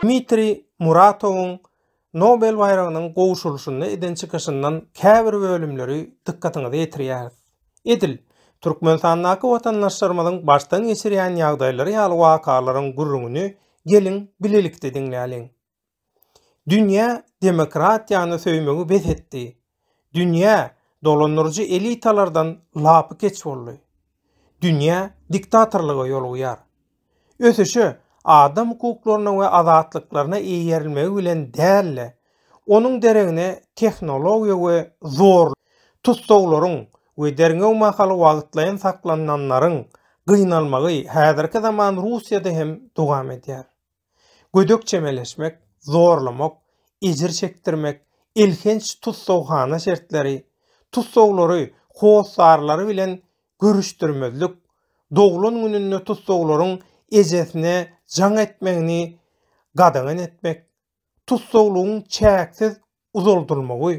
Dmitriý Muratowyň Nobel baýragynyň gowşurylyşynda eden çykyşyndan käbir bölümleri dykgatyňyza ýetirýäris. Edil, Türkmenistandaky watandaşlarymyzyň başdan geçirýän ýagdaýlary ýaly wakalaryň gürrüňini geliň bilelikde diňläliň. Dünýä demokratiýany söýmegi bes etdi. Dünýä dolandyryjy elitalardan lapykeç boldy. Dünýä diktatorlyga ýolugyar. Ösüşe adam hukuklaryna we azatlyklaryna eýerilmegi bilen däl-de, onuň deregine tehnologiýa we zorluk, tussaglaryň we derňew mahaly wagtlaýyn saklananlaryň gynalmagy häzirki zaman Russiýada hem dowam edýär. Gödek çemeleşmek, zorlamak, ejir çekdirmek, elhenç tussaghana şertleri, tussaglary hossarlary bilen görüşdirmezlik, doglan gününde tussaglaryň ejesine jaň etmegini gadagan etmek, tussaglygyň çäksiz uzaldylmagy,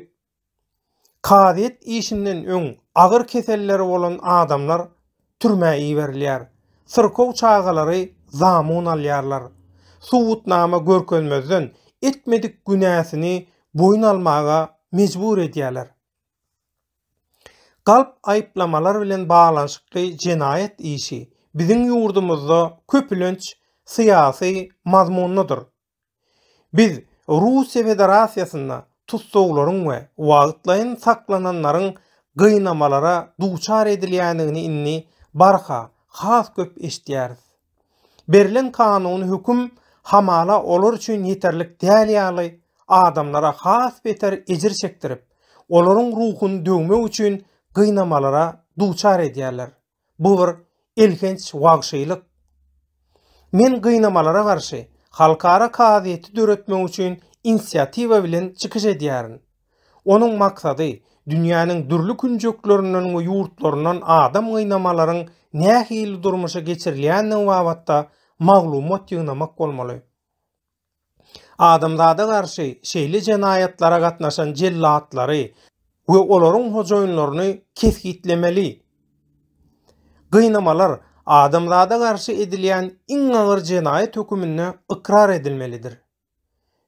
Kazyýet işinden öň agyr keselleri bolan adamlar türmä iberilýär. Syrkaw çagalary zamun alýarlar. Subutnama görkezmezden etmedik günäsini boýun almaga mejbur edýärler. Galp aýyplamalar bilen baglanyşykly jenaýat işi biziň ýurdumyzda köpülenç syýasy mazmunlydyr. Biz Russiýa Federasiýasynda tussaglaryň we wagtlaýyn saklananlaryň gynamalara duçar edilýändigini indi barha has köp eşidýäris. Berlen kanuny höküm hamala olar üçin ýeterlik däl ýaly adamlara has beter ejir çekdirip, olaryň ruhuny döwmek üçin gynamalara duçar edýärler. Bu bir elhenç wagşylyk. Men gynamalara garşy halkara kazyýeti döretmek üçin inisiatiwa bilen çykyş edýärin. Onuň maksady dünýäniň dürli künjeklerinden we ýurtlaryndan adam gynamalaryň nähili durmuşa geçirilýändigi babatda maglumat ýygnamak bolmaly. Adamzada garşy şeýle jenaýatlara gatnaşan jellatlary we olaryň hojaýynlaryny kesgitlemeli. Gynamalar adamzada garşy edilýän iň agyr jenaýat höküminde ykrar edilmelidir.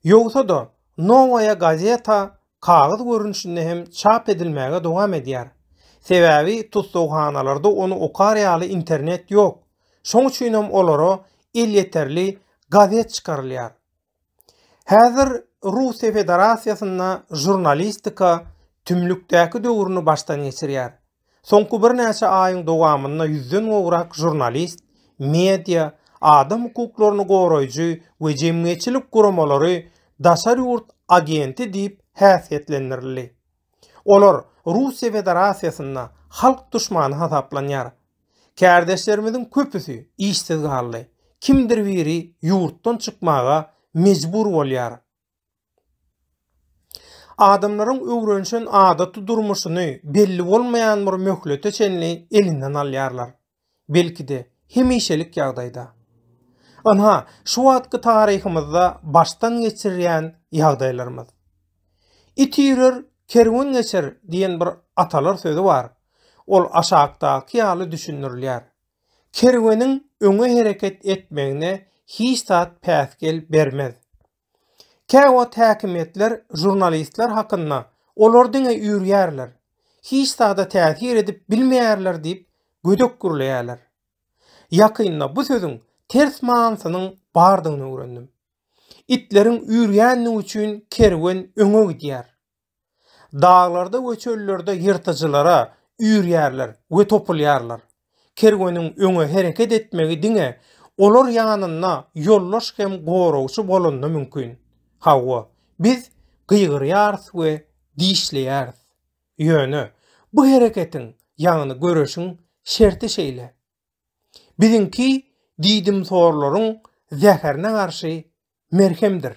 Ýogsa-da, Nowaýa gazeta kagyz görnüşinde hem çap edilmäge dowam edýär. Sebäbi tussaghanalarda ony okar ýaly internet ýok. Şoň üçin hem olara elýeterli gazet çykarylýar. Häzir Russiýa Federasiýasynda žurnalistika tümlükdäki döwrüni başdan geçirýär. Soňky birnäçe aýyň dowamynda ýüzden gowrak žurnalist, media, adam hukuklaryny goraýjy we jemgyýetçilik guramalary daşary ýurt agenti diýip häsiýetlendirildi. Olar Russiýa Federasiýasynda halk duşmany hasaplanýar. Kärdeşlerimiziň köpüsi işsiz galdy, kimdir biri ýurtdan çykmaga mejbur bolýar. Adamlaryň öwrenişen adaty durmuşyny belli bolmaýan bir möhlete çenli elinden alýarlar. belki-de, hemişelik ýagdaýda. Ynha, şu wagtky taryhymyzda başdan geçirýän ýagdaýlarymyz. It üýrer, kerwen geçer diýen bir atalar sözi bar. Ol aşakdaky ýaly düşündirilýär. Kerweniň öňe hereket etmegine hiç zat päsgel bermez. Käwagt häkimiýetler žurnalistler hakynda Olar diňe üýrýärler, hiç zada täsir edip bilmeýärler diýip gödek gürleýärler. Ýakynda bu sözüň ters manysynyň bardygyny öwrendim. Itleriň üýrýändigi üçin kerwen öňe gidýär. Daglarda we çöllerde ýyrtyjylara üýrýärler we topulýarlar. Kerweniň öňe hereket etmegi diňe olar ýanynda ýoldaş hem goragçy bolanda mümkin. Hawa, biz gygyrýarys we dişleýäris. Ýöne bu hereketiň, ýagny göreşiň şerti şeýle. Biziňki diýdimsorlaryň zäherine garşy merhemdir.